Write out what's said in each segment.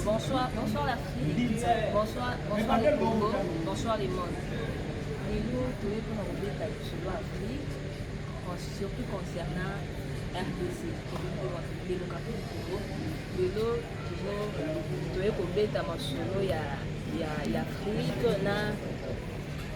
Bonsoir, bonsoir l'Afrique, bonsoir, bonsoir le Congo, bonsoir le monde. Lelo toye mpona kobeta lisolo Afrique, surtout concernant RDC, démocratie du Congo. Lelo toye kobeta masolo ya, ya, ya Afrique na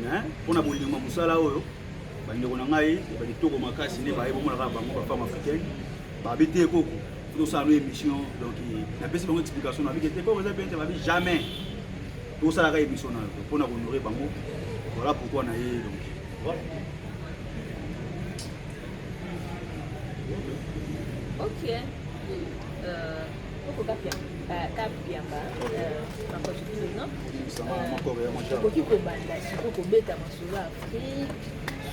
mais mpo na bolingo ya mosala oyo bandeko na ngai ya bakitoko makasi nde baye bomonaka bango bafemme africaine babi te koko tosala no émission donc napesi bango explication nabi te koko eza bien te babi jamais tosalaka émission na yo mpo na kohonore bango voilà pourquoi na ye donc voilà. ok euh... okoki kobanda siko kobeta masolo ya afrique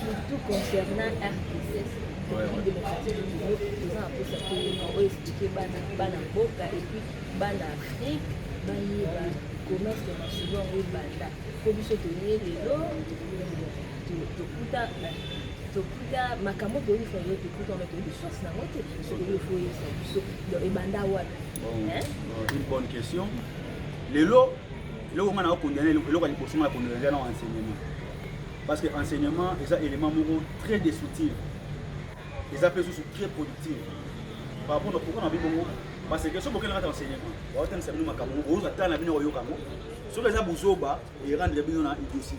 surtout concernant rss eza naposa toyeba oyo esplike bana mboka epuis bana afrique bayeba commerce ya masolo yango ebanda po biso toye lelo tokuta tokuta makambo toyebisa yo tokuta ona toyebi source nango te soki yo foyebisa biso ebanda wapi une bonne question lelo eloko nga na okondana eloko ya liboso nga na kondana eza na enseignement parce que enseignement eza élément moko très destructif eza mpe susu très productif par rapport na pourquoi na bi bongo parce que soki bokende kati enseignement baotangisa bino makambo moko oyoka tala na bino oyoka yango soki eza buzoba erendre bino na idosi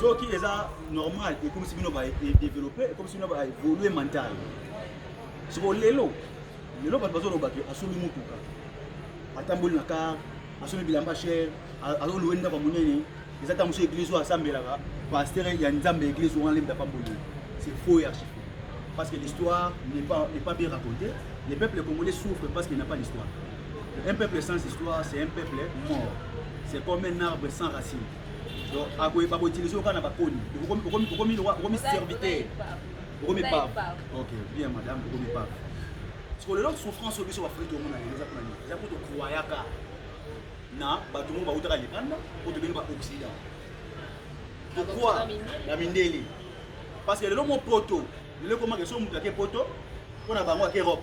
soki eza normal ekomisi bino ba développe ekomisi bino ba évolue mental soko lelo lelo bato bazoloba ke asombi motuka atamboli na kar asombi bilamba cher azoluwe ndako monene eza ntango mosusu eglise oyo asambelaka pasteur ya nzambe ya eglise wana lembe apamboli c'est faux et archi parce que l'histoire n'est pas, n'est pas bien racontée les peuples congolais souffrent parce qu'il n'a pas d'histoire un peuple sans histoire c'est un peuple mort c'est comme un arbre sans racine donc akoyeba koutilize oyo kaka na bakoni okomi serviteur okomi pave Ok, bien madame, vous ne pas. Parce que le long souffrance au biso va faire tout le monde à l'église pour nous. Il y a pour te croire car na bato moko bautaka libanda oyo tobengi baoccident pourquoi na mindele parce que lelo mo poto lelo ekomaka so moto ake poto mpo na bango ake europe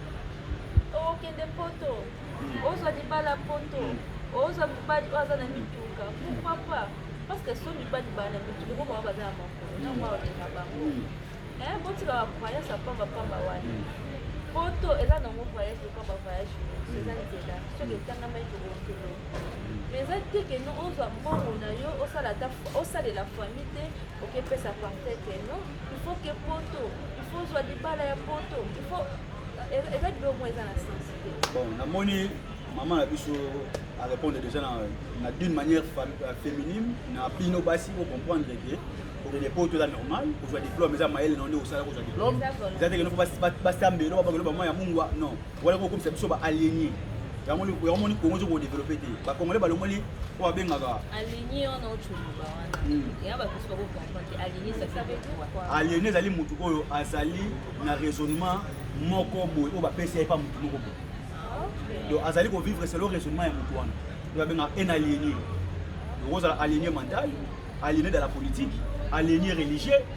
okende poto ozwa libala poto ozwa mobali oyo aza na mituka pourquoi pas parce que so mibali baa na mituka po bango baza na makolo na mwa olinga bango botika ba croyance ya pamba pamba wana poto eza nango voyage lokola ba voyage nyonso eza nzela soki etangamaki tokokende mais eza te ke no ozwa mbongo na yo osalela famille te okepesa parceke no il faut que poto il faut ozwa libala ya poto il faut eza libe omoi eza na sens te bon namoni mama na biso arépondre déjà na, na d'une manière euh, féminine na bino basi bocomprendre ke kokende po to eza normal kozwa diplôme eza mayele na nde kosala kozwa diplôme eza teke noko basambelo babakelo bamwa ya mungwa non Wala ko komisa biso ba alienés. Yango ni yango ni Congo ko développer te. Ba Congolais ba longoli ko abengaka. Alienés on a autre ba wana. Hmm. Ya ba kusa ko comprendre alienés ça fait quoi? Alienés ezali mutu oyo azali na raisonnement moko boye oyo bapesi ye pa mutu moko boye. Ah, Donc azali ko vivre selon raisonnement ya mutu wana. Donc abenga un aliéné. Donc ozala aliéné mental, aliéné dans la politique, aliéné religieux.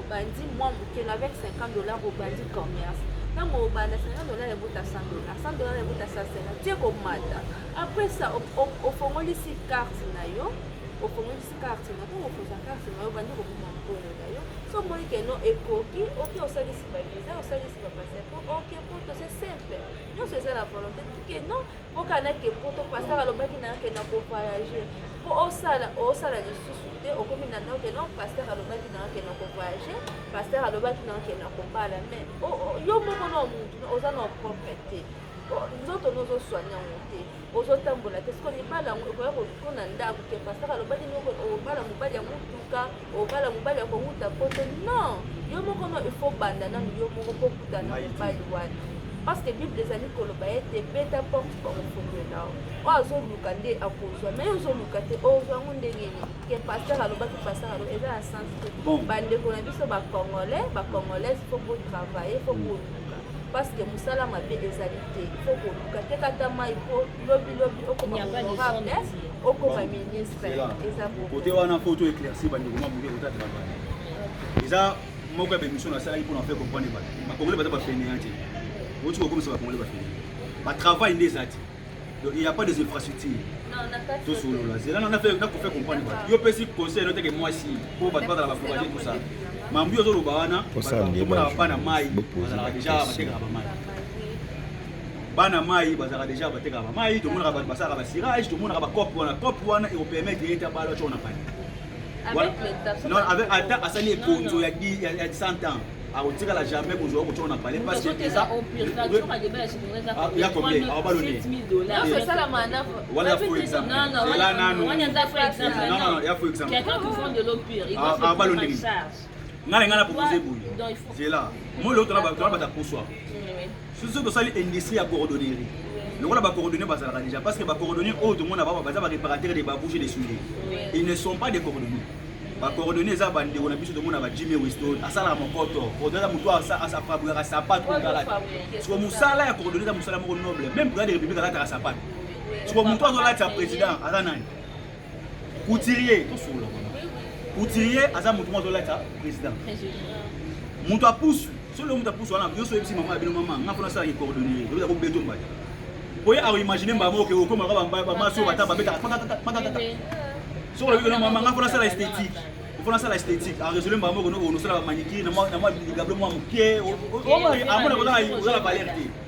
obandi mwa moke na avec 50 dollars obandi commerce ntango obanda 50 dollars ebuta 100 dollars 100 dollars ebuta 150 tie komata après ça ofongolisi carte na yo ofongolisi carte na ntango okozwa carte na yo obandi kokoma mokolo na yo so omoni keno ekoki oke osalisi baviza osalisi bapaseport oke mpo tose simple nyonso eza na volonté keno mboka nake poto pasteur alobaki na yake na kovoyage mpo osala osala lisusu te okomi na noke non pasteur alobaki na yake na kovoyage pasteur alobaki na yake na kobala mais yo moko na omuntu oza na propre te nzoto nozoswani yango te ozotambola te soko libala yango ekoya kokona ndako te pasteur alobaki noko obala mobali ya motuka obala mobali ya kowuta poto non yo moko no il faut banda nanu yo moko mpo okuta na mobali wana parce que bible ezali koloba ete beta porte bakofungela oyo azoluka nde akozwa mai ozoluka te ozwa yango ndenge nini ke paster alobaki paster alo eza na sens te bandeko na biso bacongolais bacongolaise fo botravaille fo boluka parce que mosala mabe ezali te fo koluka te kata mai po lobi lobi okoma honorable okoma ministre eza kote wana foto éclairci bandeko ma moke kota travail eza moko ya bémission nasalaki mpona fe comprendre bato bakongole baza bafeneyan te oti kokomisa bakongole bafeneyan batravail nde eza te donc il y a pas des infrastructures tosolola zela nakofe comprendre bato yo pesi conseil no teke mwasi mpo bato bazala bafourage tout ça mambo yo ozoloba wana tomonaka bana mai bazalaka deja batekaka bamai bana mai bazalaka deja batekaka bamai tomonaka bato basalaka basirage tomonaka bacope wana cope wana ekopermettre ye te abala oco na pani ata asali ekonzo ya 100 ans akotikala jamais kozwa kocoka na pale parce que eza ya combien abaloni wana fo exemple ela nanu ya fo exemple abaloni nga na nga na propose boye zela moi leo tona tona bata poswa soso tosali industrie ya coordonnerie lokola ba coordonnées bazalaka déjà parce que ba coordonnées oyo tomona bango baza ba réparateurs de babouche de soulier ils ne sont pas des coordonnées ba coordonnées eza bandeko na biso tomona ba jimmy weston asalaka mokoto coordonne motu afabrikaka sapato otalaki siko mosala ya coordonne eza mosala moko noble même président de république alataka sapato siko motu azolatisa président aza nani couturier tosolola couturier aza motu moko azolata président moto apusu soki leo moto apusu wana yo so oyebisi mama ya bino mama nga mpona asalaki coordonnier oyebisa ko beto mbaya oye akoimagine mbaya moko oke okomaka bamasi oyo bata babetaka pakakakakakaka soki olobi kona mama nga mpona asala esthétique mpona asala esthétique aresole mbaya moko noko onosala bamanikiri na mwa ligablo mwa moke amona kozala valeur te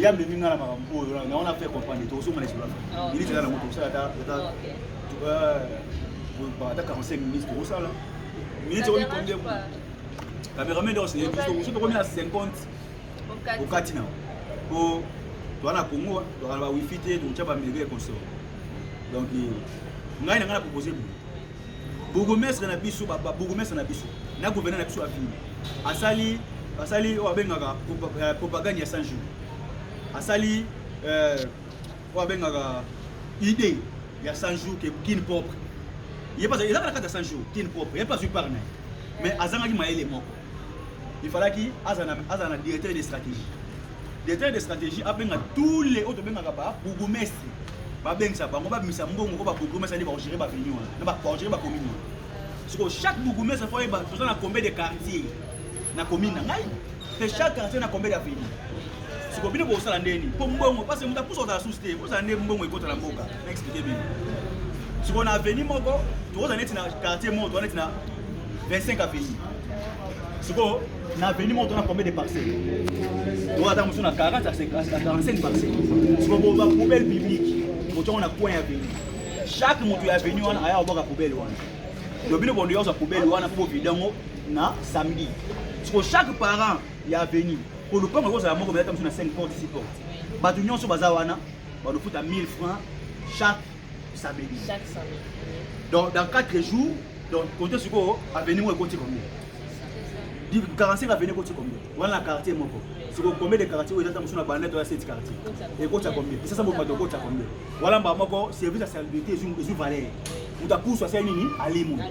ya memi nga na makambo oyo na wana fe comprendre tozonga na esola minute eza na moto osala ata ata 45 minutes tokosala minute oyo mikonde cameraman nde osenye biso soki tokomi na 50 okati na po toa na congo tokala ba wifi te tokotya bamega ekonsor donc ngai na ngai na propose boye bourgmestre na biso babourgmestre na biso na gouverneur na biso avini asali asali oyo abengaka euh, propagande ya 100 jours asali euh, oyo abengaka idée ya 100 jours ke kin propre ye mpasa eza kaka kati ya 100 jours kin propre ye mpe azwi par na ye mais azangaki mayele moko il falaki azala na directeur de stratégie directeur de stratégie abenga tous les oyo tobengaka ba bourgmestre babengisa bango babimisa mbongo oyo babourgmestre nde bakogere baveni wana na bakogere bakomini wana soko chaque bourgmestre fo oyeba toza na combien de quartier na commune na ngai mpe chaque quartier na combien d'aveni soko bino bokosala ndeni mpo mbongo parce moto apusa kozala susi te ozala nde mbongo ekota na mboka expliquer bino sikoyo na avenue moko tokozala neti na quartier moko toza neti na 25 avenue sikoyo na avenue moko tona combien de parcelle toza ata mosusu na 40 à 45 parcelle sikoyo boza poubelle publique botongo na coin ya avenue chaque moto ya avenue wana aya kobwaka poubelle wana donc bino bondo yozwa poubelle wana mpo vida yango na samedi sikoyo chaque parent ya avenue po lopango ekozala moko belata mosusu na 5 porte 6 porte bato nyonso baza wana balofuta 1000 francs chaque samedi chaque samedi donc dans 4 jours donc kote sikoyo avenue moko ekoti combien 45 avenue ekoti combien wana na quartier moko sikoyo combien de quartier oyo ezata mosusu na banda to ya seti quartier ekota combien esasa moko bato ekota combien wana mbaa moko service ya salubrité ezwi valeur moto apusu asali nini alimu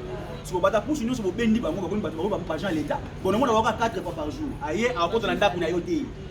siko bato apusu nyonso bobendi bango bakomi bato baoyo bapagen ya leta bonomona waka 4 fois par jour aye akota na ndako na yo te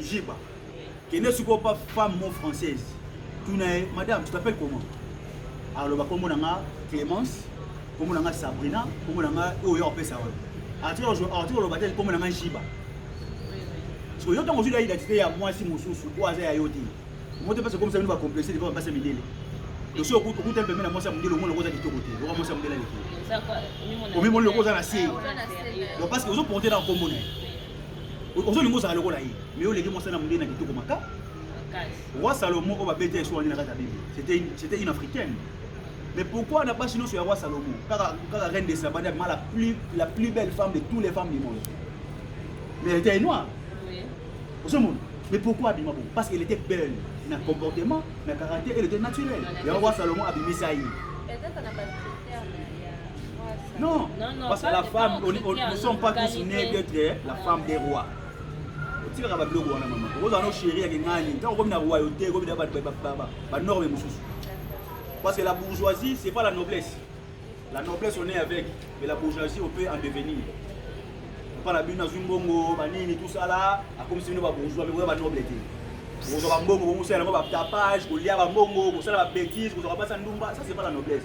Jiba. Kende sikoyo pa femme mon française. Tuna ye, madame, tu t'appelles comment? Aloba kombo na nga Clemence, kombo na nga Sabrina, kombo na nga oyo oh, opesa wana. Arthur Arthur aloba te kombo na nga Jiba. Siko yo tango ozwi na identité ya mwasi mosusu oyo aza ya yo te. Moto pesa komisa bino ba complexe de basa mindele. Dosi okuta okuta pembeni na mwasi ya mindele omona koza kitoko te. Oka mwasi ya mindele aleki. Omimoni lokoza na se. Donc parce que ozo porter na kombo na ye. ozolinga ozala lokola ye mais oleki mwasi na mondele na kitoko maka roi salomon oyo babeti ya eswani na kati ya bible c'était une africaine mais pourquoi na basi nyonso ya roi salomon kaka kaka reine de sabane abima la plus la plus belle femme de tous les femmes du monde mais elle était noire ozomona mais pourquoi abima bongo parce qu'elle était belle na comportement na caractère elle était naturelle yango roi salomon abimisa ye Non, parce que la femme, on, on, nous sommes pas tous nés d'être eh, la femme des rois. otikaka babiloko wana mama okozala no sheri yake ngani ntango okomi na royauté okomi na banorme mosusu parce que la bourgeoisie c'est pas la noblesse la noblesse on est avec mais la bourgeoisie on peut en devenir epa na bino nazwi mbongo banini tosala akomisi bino babourgeois mekoya banoble te kozwa bambongo bongosala yango batapage kolia bambongo kosala babétise kozwaka basa ndumba ça c'est pas la noblesse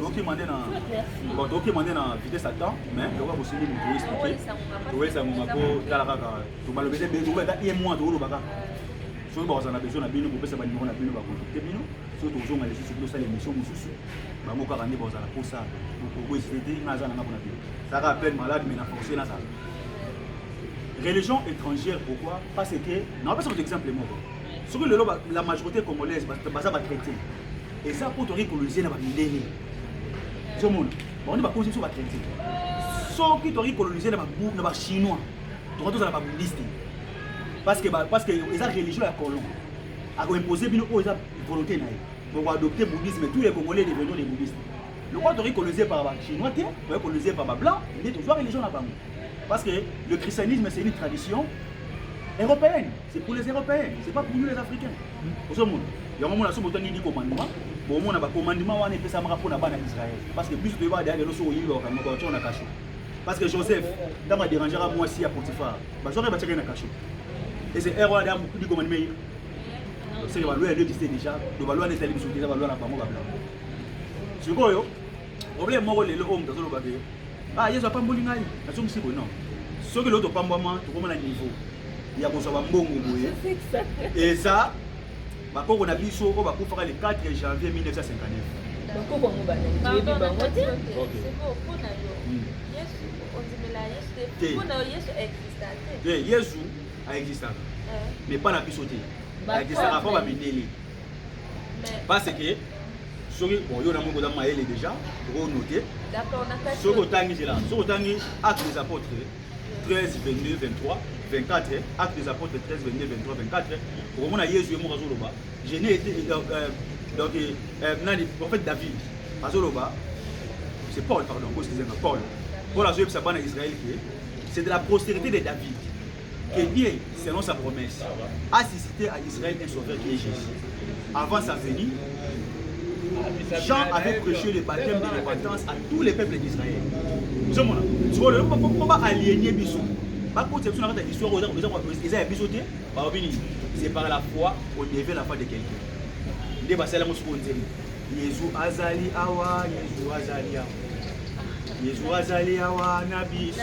tokima nde na bon tokima nde na vitesse ata mais lokola bosimbi moto explike toyesa ngonga mpo tala kaka tobalobete ebele tokoba ata ye mwa tokoloba kaka soki bakozala na besoin na bino kopesa banimero na bino bakontakte bino soki tokozonga lisusu bino osala émission mosusu bango kaka nde bakozala mposa bokokoesite te nga aza na ngako na bino saka appel malade mais na force nazala religion étrangère pourquoi parce que naopesa moto exemple moko soki lelo la majorité congolaise baza batraité eza mpo toyaki kolonize na bamindele ozomona bango nde bakonzi biso batraite soki toyaki kolonize na bachinois toka tozala babudiste parce que eza religion ya colon akoimpose bino oyo eza volonté na ye bokoadopte bouddhisme tous les congolais devenons des bouddhistes lokola toyaki kolonize par bachinois te toyaki kolonize par bablanc nde tozwa religion na bango parce que le christianisme c'est une tradition européenne C'est pour les Européens, c'est pas pour nous les Africains. Ozomona. Yango mona so botangi di commandement, bomona ba commandement wana epesamaka mpo na bana Israël. Parce que biso toyeba da lelo so oyinga okanga kwa tona kasho. Parce que Joseph, ntango aderangera mwasi ya Potiphar, bazwaka ye batyaka ye na kasho. Et c'est erreur da di commandement ye. C'est que baloi ya Dieu existait déjà, donc baloi n'ezali biso déjà baloi na bango babla. Sikoyo, problème moko lelo oyo moto azoloba ke Ah, Yesu apamboli ngai. Nazongisi boye non. Soki lelo topambwama tokoma na niveau ya kozwa bambongo boye eza bakoko na biso oyo bakufaka le 4 janvier 1959 bakoko yango banayebi bango te yesu aexistaka mais mpa na biso te aexistaka mpo bamindeli parce que soki bon yo na moko oza mayele déjà okonote soki otangi zela soki otangi acte des apôtres 13 22 23 24 acte des apôtres 13 22 23 24 okomona yesu ye moko azoloba je n'ai été euh, euh, donc euh, nani prophète david azoloba c'est paul pardon bosekizanga paul paul azoyebisa bana israel ke c'est de la postérité de david que Dieu, selon sa promesse, a suscité à Israël un sauveur qui est Jésus. Avant sa venue, Jean avait prêché le baptême de repentance à tous les peuples d'Israël. ozomona sikoyo lelo mpo baalienie biso bakotisa biso na kati ya histoire oyo eza ya biso te balobi nini c'est par la foi odeve la foi de quelqu'un nde basala yango sikoyo nzembo yezu azali awa yezu azali awa yezu azali awa na biso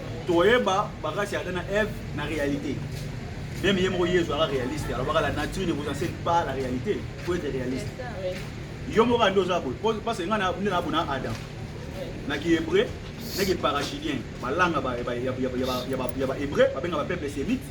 toyeba bakasi ya Adam na Eve na réalité même ye moko yezu aka réaliste alobaka la nature ne vous enseigne pas la réalité faut être réaliste yo moko andi oza boye parce que ngai nde nabona adam na kihébreu na kiparachidien balanga ya bahébreu babenga bapeuple sémite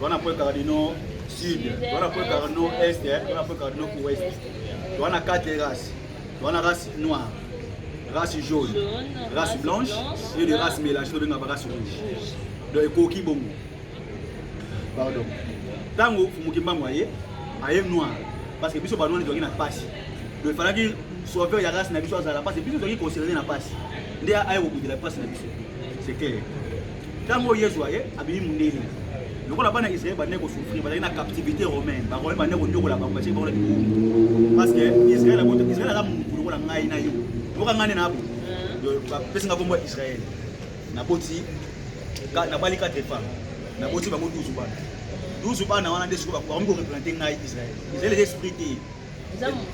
Wana po cardino sud, wana po cardino est, wana po cardino ouest. Wana quatre races. Wana race noire, race jaune, race blanche et de race mélangée to benga ba race rouge. Donc ekoki bongo. Pardon. Tango Fumukimbangu aye, aye noir parce que biso ba noir ezalaki na pasi. Donc il fallait sauveur ya race na biso azala pasi biso ezalaki considéré na pasi. Nde aye kokundela pasi na biso. C'est clair. ntango oyo yezu aye abimi mondele lokola bana israel bandaki kosouffrir bazali na captivité romaine baromain bandaki konyokola bango batie bango na mikumbu parce que israel abota israel aza motu lokola ngai na yo yoka ngai nde na abo bapesi nga kombo ya israel naboti nabali quatre femme naboti bango 12 bana 12 bana wana nde siko bakomi koreprésente ngai israel israel eza esprit te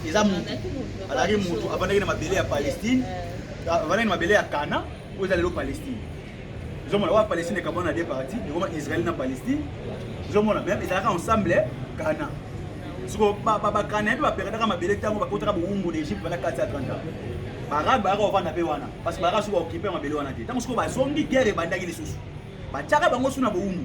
eza motu azalaki motu avandaki na mabele ya palestine eh. avandaki na mabele ya kana oyo eza lelo palestine ozomona oyo palestine ekabwana na de parti ekoma israel na palestine ozomona meme ezalaka ensemble ghana siko bakanai mpe baperetaka mabele ntango bakotaka bowumbu na egypte wana kati ya 30 barabe bayaka kovanda mpe wana parce barabe soki baokipe mabele wana te ntango soki bazongi guerre ebandaki lisusu batiaka bango su na bowumbu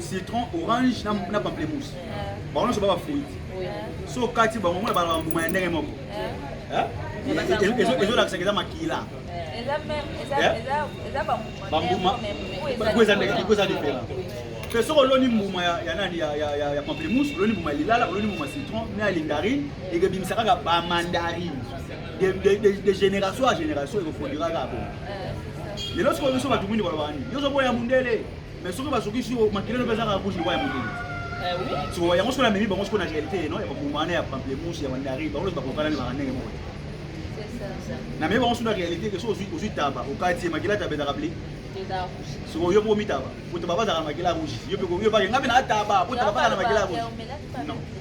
citron orange na pamplemousse bango nyonso ba bafruiti so okati bango mona bala bambuma ya ndenge moko ezolakisaka eza makila bambumaikweza diferent mpe soki oloni mbuma ya nani ya pamplemousse oloni mbuma ya lilala oloni mbuma ya citron na ya lindarine ekebimisa kaka bamandarine de génération à génération ekofondiraka bo lelo sikoyo biso bato mwindu balobaka nini nyonso boya mundele mais soki bazokisi yo makila no mpe ezaka kushi boya mundele eh so yango sikoyo namemi bango sikoyo na réalité no ya babuma wana ya pamplemousse ya bandari bango lozi bakokana libaka ndenge moko namemi bango sikoyo na réalité ke so ozwi taba okati ye makila taba ezaka bli sikoyo yo mpo omitaba po taba bazaka makila rouge yo mpe yo bake ngai mpe na ataba po taba bazaka na makila rouge non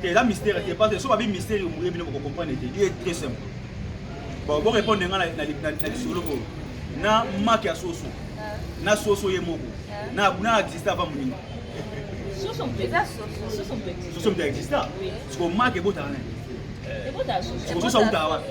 te eza mystère te parce que so babi mystère moye bino bokocomprendre te ye très simple bon borépondre nga na lisolo oyo na make ya soso na soso ye moko na existe avant moninga soso moto exista siko make ebotaka nani sikososo autaka wapi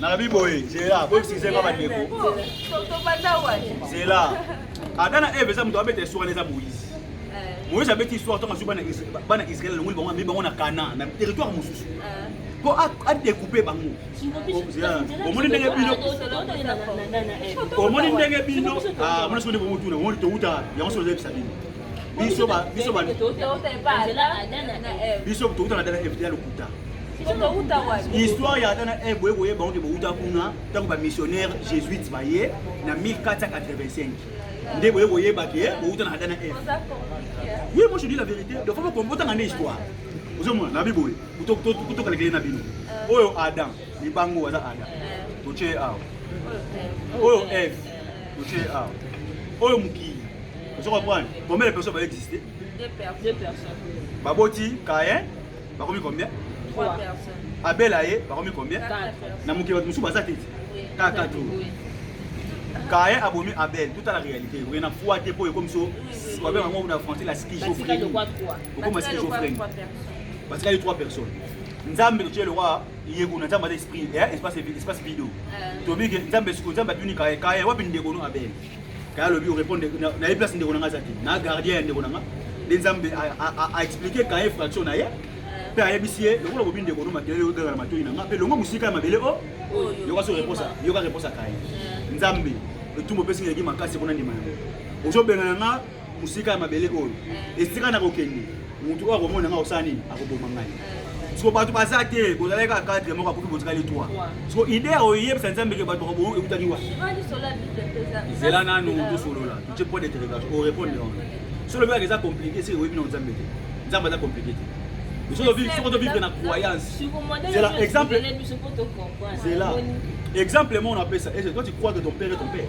nalobi boye zela boyebisize nga bandeko zela adana eve eza moto abeta esuka na eza moise moise abeti histoire ntango azwi bana israel alongoli bango amemi bango na kana na territoire mosusu mpo adekoupe bango omoni ndenge bino omoni ndenge bino mona soki nde bomotuna omoni towuta yango soki ozayebisa bino biso biso biso towuta na dana fda lokuta histoire ya tana e boye koyeba yango te bowuta kuna ntango bamissionnaire jésuite baye na 1485 nde boye koyeba ke bowuta na adana eve oui moi je dis la vérité de fois bokombotanga nde histoire ozomona nabi boye kutokalekele na bino euh. oyo adam libango aza adam euh. totie ye awa euh. oyo eve totie ye awa oyo mokili ozo comprendre combien de personnes baexiste baboti kayen bakomi combien abela ye bakomi combien na mokili bato mosusu baza te kaka tu kaye abomi abel tout à la réalité oye na foi te mpo ekomi so wabe yango na français la schizophrenie okoma schizophrenie batikali trois personnes nzambe totie lokwa yeko na nzambe aza esprit espace video tobike nzambe siko nzambe atuni kaye kaye wapi ndeko no abel kaya alobi orepondre na ye place ndeko na nga aza te na gardien ya ndeko na nga nde nzambe aexplike kaye fraction na ye mpe ayebisi ye lokola bobi ndeko no makelele oyogaka na matoi na nga mpe longo mosika ya mabele o oh, yoka so reponse yoka reponse akaye nzambe etumbu opesi ngeleki makasi mpona ndima yango ozobengana nga mosika ya mabele oyo eh. esika na kokende motu oyo akomona ngai osala nini akoboma ngai eh. siko bato baza te bozalaki kaka kadre moko akufi botikali twa siko ide ya oyebisa nzambe ke bato bakoboma ekutaki wa zela nanu tosolola totie point d'interrogation orépondre wana so lobi kaka eza compliqué seke oyebi na nzambe te nzambe aza compliqué te soki tovivre na croyance zela exemple zela exemple moko napesa ese toi tu crois que ton père est ton père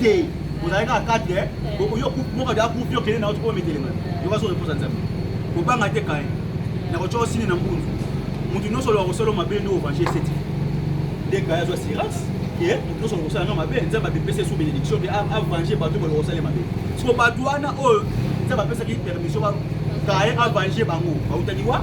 te ozali kaka kati eh? oyo moka de akufi okende na otikoma metelema yoka so reposa nzambe kobanga te kaye nakotya osini na mbunzu moto nyonso oloka kosala mabe nde ovange eseti nde kaye azwa sirance ke moto nyonso oloka kosala nga mabe nzambe apepesa esu benediction mpe avange bato baloka kosala mabe siko bato wana oyo nzambe apesaki permission kaye avange bango bautani wa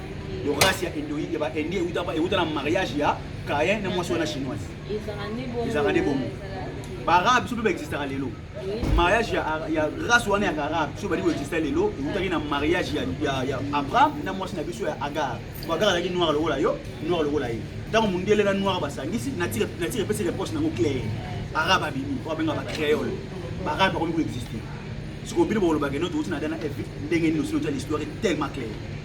yo race ya indo ya ba indi euta ba euta na mariage ya Caïn na mwasi wana chinoise ezalaka nde bongo baarabe biso mpe baexistaka lelo mariage ya race wana ya arabe biso bali koexista lelo eutaki na mariage ya abraham na mwasi na biso ya agar po agar azalaki noir lokola yo noir lokola ye ntango mondele na noir basangisi natire epesi reproche nango claire arabe abimi oyo abenga bacreole baarabe bakomi koexiste sikoyo bino bolobaka eno touti na dana epi ndenge nini osili otya l'histoire tellement claire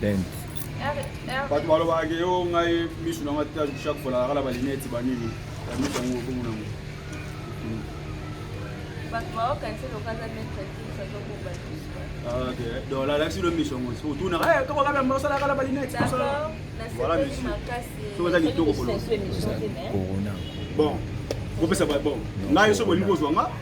Bent. bato balobaka ke yo ngai misu na nga ta chaque fois nalakala balineti banini ya misu yango okomo nango donc lalakisi lo misu yango soki otunaka eh, kaka kaka yango osalakala balineti voilà misu soki oza kitoko kolona bon kopesa bon ngai soki bolingi kozwa nga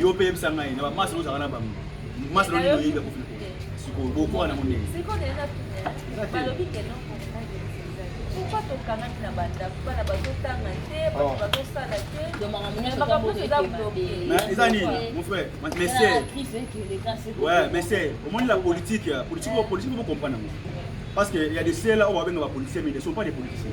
yo mpe yebisa ngai na bamasi ozalaka na bango masi na nini oyebi akufi sikoyo bokoka na mondenge pourquoi tokanaki na bandako bana bazotanga te bato oh. bazosala te makambo nyonso eza bloke eza nini mon frère monsieur ouais monsieur omoni la politique politique oyo politique bocomprendre yango parce que ya de cela oyo babenga bapoliticien mais ne sont pas des politiciens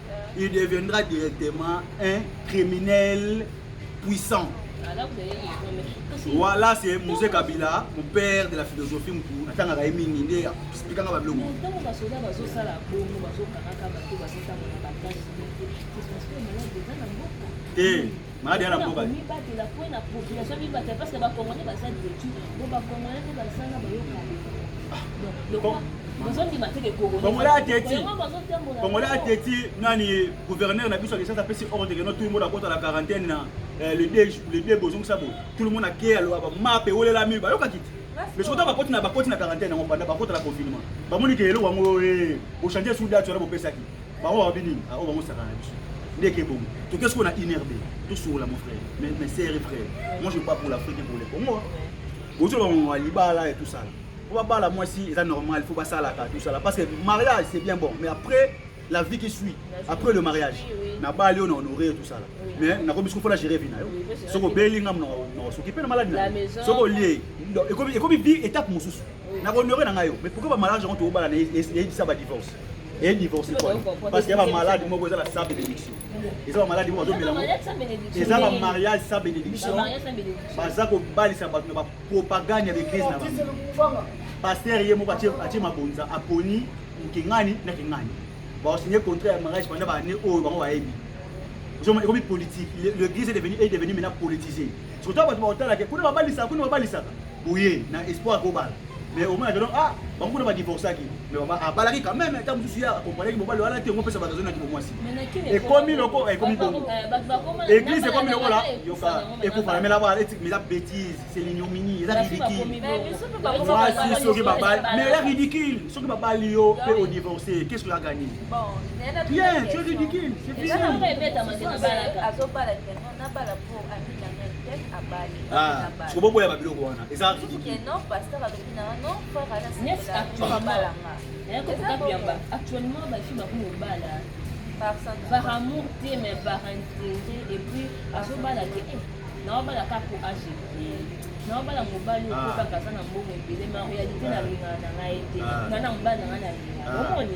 il deviendra directement un criminel puissant. Voilà, c'est Moussé Kabila, mon père de la philosophie, mon atanga ga emi ni nde expliquer nga bablo. Mon tango ba soda ba zo sala bongo ba zo kaka ba to ba sita ba ba kasi. C'est parce que malade dans la mboka. Eh. maladi yana mboka mibatela mpo na population mibatela parce que bacongolais baza detu bo bacongolais mpe bazanga bayokaongolais ateti nani gouverneur na biso akisasa apesi ordre keno tout le monde akota na quarantaine na eh, le de bozongisa bo tout le monde akeya loba bamape ewelelami bayokaki te mais soki bakoti na bakoti na quarantaine yango banda bakota na confinement bamoni ke eloko yango eh, ochange sous date wana bopesaki Baoyo babi nini? Ah, oyo bango sakana na biso. ndeke bongo toke sikoyo na inrb tosokola mon frère mais, mais sere frère moi je pas pour l'afrique pour le congo bozoba bango ya libala et tout ça po babala mwasi eza normal faut basalaka tout ça parce que mariage c'est bien bon mais après la vie qui suit après le mariage nabali oyo na honore tout ça mais nakomi siko fona gérer vie na yo soki obeli nga nakosoki mpe na maladi na soki olie ekomi vie étape mosusu na honore na ngai yo mais pourquoi bamariage yango tobobala na eyebisa badivorce eye divorce kwana parce que ya bamalade moko eza na sa bénédiction eza bamalade moko azomelango eza bamariage sa bénédiction baza kobalisa bato na bapropagande ya baeglise na bango paster ye moko atie mabonza aponi mokingani na kingani baosigne contrat ya mariage pendant baane oyo bango bayebi ekomi politique l'église est devenu maintenant politisé surtout bato baotalaka kuna babalisaka kuna babalisaka boye na espoir akobala mais omona ke ah bango kuna badivorcaki mais mama abalaki quand même ntango mosusu ye akompanaki mobali wana te omopesa bato azonaki bomwasi ekomi loko ekomi bongo église ekomi lokola yoka ekufana mela bala eza bétise c'est l'ignominie eza ridicule mwasi soki babali mais eza ridicule soki babali yo mpe odivorce qu'est ce que agani bien tu es ridicule c'est fini Ah, sikoboboya babiloko wana eza actuellement bafi bakomi kobala par amour te mais par intérêt et puis azobala te eh, naobala kaka po age naobala mobali ah. oyo kaka aza na mbongo ebele ma réalité ah. nalingaka na ngai te nga na mobali na ngai nalingaka omoni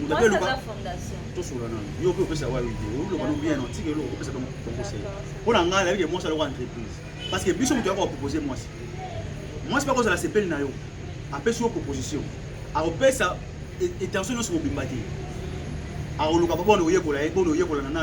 moto ape eloka tosola nano yo mpe opesa wa video oloba no bien otika eloko kopesa bango conseil mpo na ngai nayebi ke mwasi aloko entreprise parce que biso moto yako bapropose mwasi mwasi mpe akozala sepeli na yo apesi yo proposition akopesa etention nyonso mobimba te akoluka babona oyekola ye bona oyekola na nano